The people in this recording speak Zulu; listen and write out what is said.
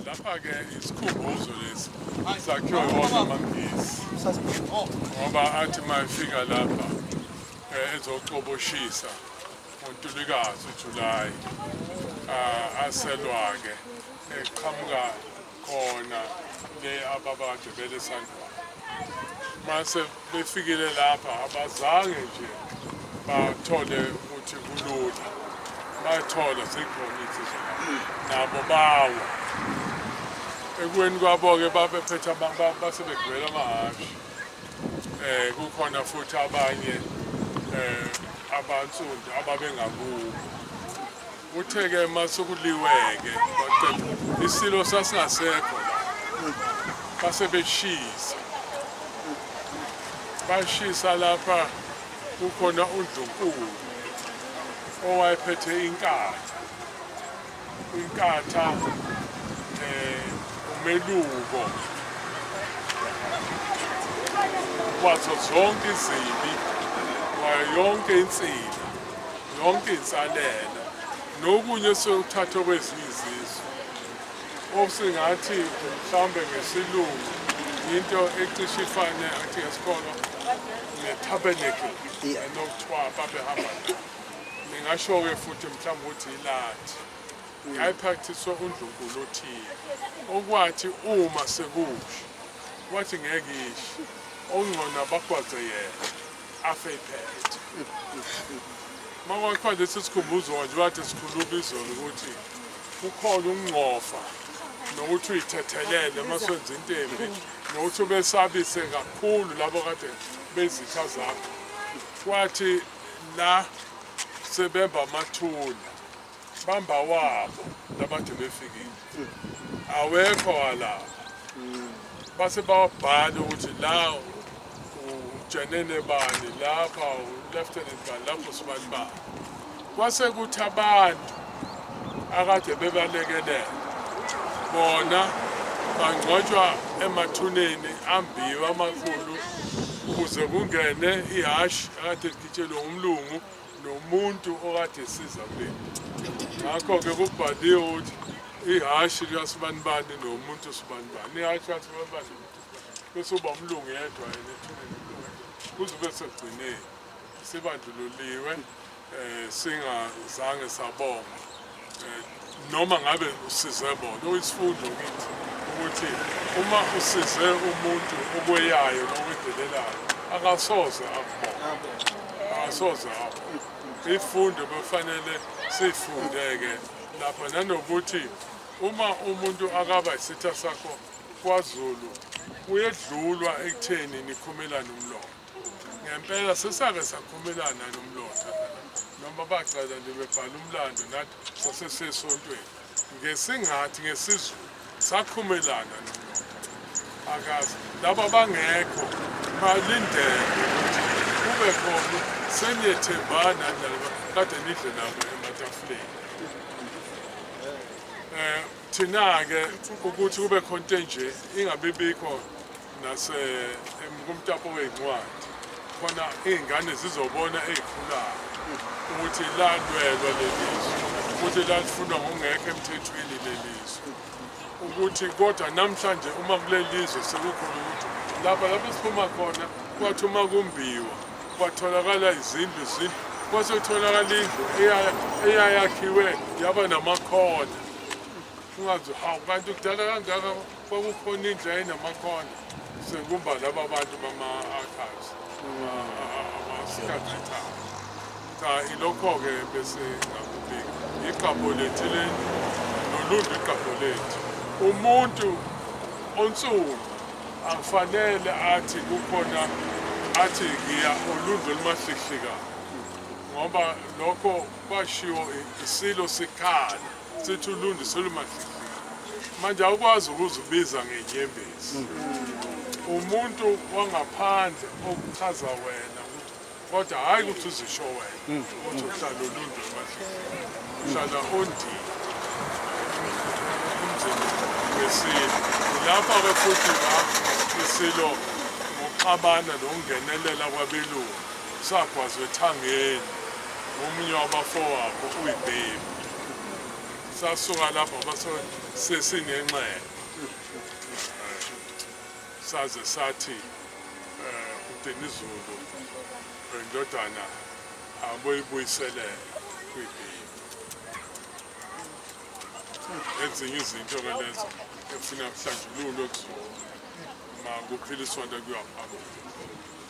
lapha-ke isikhumbuzo lesi sakhiwe wona amangisi ngoba athi uma efika lapha um ezocoboshisa ngontulikazi ujulayi um aselwa-ke eqhamuka khona le ababagibele esandlwana mase befikile lapha abazange nje bathole ukuthi kulula bathola zikhona izindlela nabo bawo ekweni kwabo-ke babephethe basebegibela amahhashi um kukhona futhi abanye um abansundu ababengakubo Uthe ke masukuliweke baqeda isilo sasingasekho base beshisa bashisa lapha kukhona uNdlunkulu owayephethe inkatha inkatha eh umeluko wazo zonke izibi wayo yonke insini yonke insalela nokunye sokuthathwa kwezinye izizwe osingathi mhlawumbe ngesilungu into ecishe ifane athi ngesikolo ne-tabernacle enokuthiwa babehamba ningasho-ke futhi mhlawumbe ukuthi ilathi yayiphakhthiswa undlunkulu othile okwathi uma sekuhle wathi ngeke isho okungcono abagwaze yena afe iphethe uma kwakuthiwa nje sisikhumbuzo nje bathe sikhuluma izolo ukuthi kukhona ukungcofa nokuthi uyithethelele uma senza into embi nokuthi ubesabise kakhulu labo kade bezitha zakho kwathi la sebemba amathuna Bamba wabo labade befikile. Awekho walapha. Base bawabhala ukuthi la ujenene bani lapha ulieutenant bani lapho sibani bani. Kwase kuthi abantu akade bebalekelela bona bangcwatshwa emathuneni ambiwa amakhulu ukuze kungene ihhashi akade ligitshelwe umlungu nomuntu okade esiza kuleli ngakho-ke kubhaliwe ukuthi ihhashi liyasibanibani nomuntu usibanibani ihhashi liyasibanibani bese uba umlungu yedwa yena ethuneni kuze kube sekugcineni sibandlululiwe um singazange sabonga noma ngabe usize bona uyisifundo kithi ukuthi uma usize umuntu okweyayo nowedelelayo akasoze akubona akasoze apho ifundo befanele siyifundeke lapha nanokuthi uma umuntu akaba isitha sakho kwazulu uyedlulwa ekutheni nikhumelane umlomo ngempela sesake sakhumelana nomlotha noma bacela nje bebhala umlando nathi sasesesontweni ngesingathi ngesizulu sakhumelana nomlotha akazi laba bangekho balindele ukuthi kube khona seniyethembana nalaba kade nidle nabo ematafuleni um thina-ke ukuthi kube khona into enje ingabibikho nase kumtapo wezincwadi khona iy'ngane zizobona ey'khulayo ukuthi lalwelwa lelizwe ukuthi lalifunwa ngokungekho emthethweni lelizwe ukuthi kodwa namhlanje uma kulelizwe sekukhona ukuthi lapha lapho siphuma khona kwathi uma kumbiwa kwatholakala izindlu izindlu kwase kutholakala indlu eyayakhiwe yaba namakhona ungazi hawu kanti kudala kangaka Kwakukhona indlu yayinamakhona sengumba laba bantu bama-archives amasikathetha cha ilokho-ke bese ngakubika iqabo lethu leli nolundu iqabo lethu umuntu onsundu akufanele athi kukhona athi ngiya olundu olumahlihlikana ngoba lokho kwashiwo isilo sikhala sithi ulundi selumahlihliya manje awukwazi ukuzibiza ngenyembezi umuntu wangaphandle okuchaza wena ukuthi kodwa hhayi ukuthi uzisho wena ukuthi uhlala ulundi emahlihliya uhlala ondini umzini wesilo lapha-ke futhi la isilo ngokuxabana nokungenelela kwabelungu sagwazwa ethangeni ngomunye wabafowabo uyibhebi sasuka lapho sesinenxele saze sathi um udenizulu indodana aboyibuyiselele kwibhili ezinye izinto ke lezo efuna kuhlanjululwe kuzona uma kuphila isonto kuyaphambili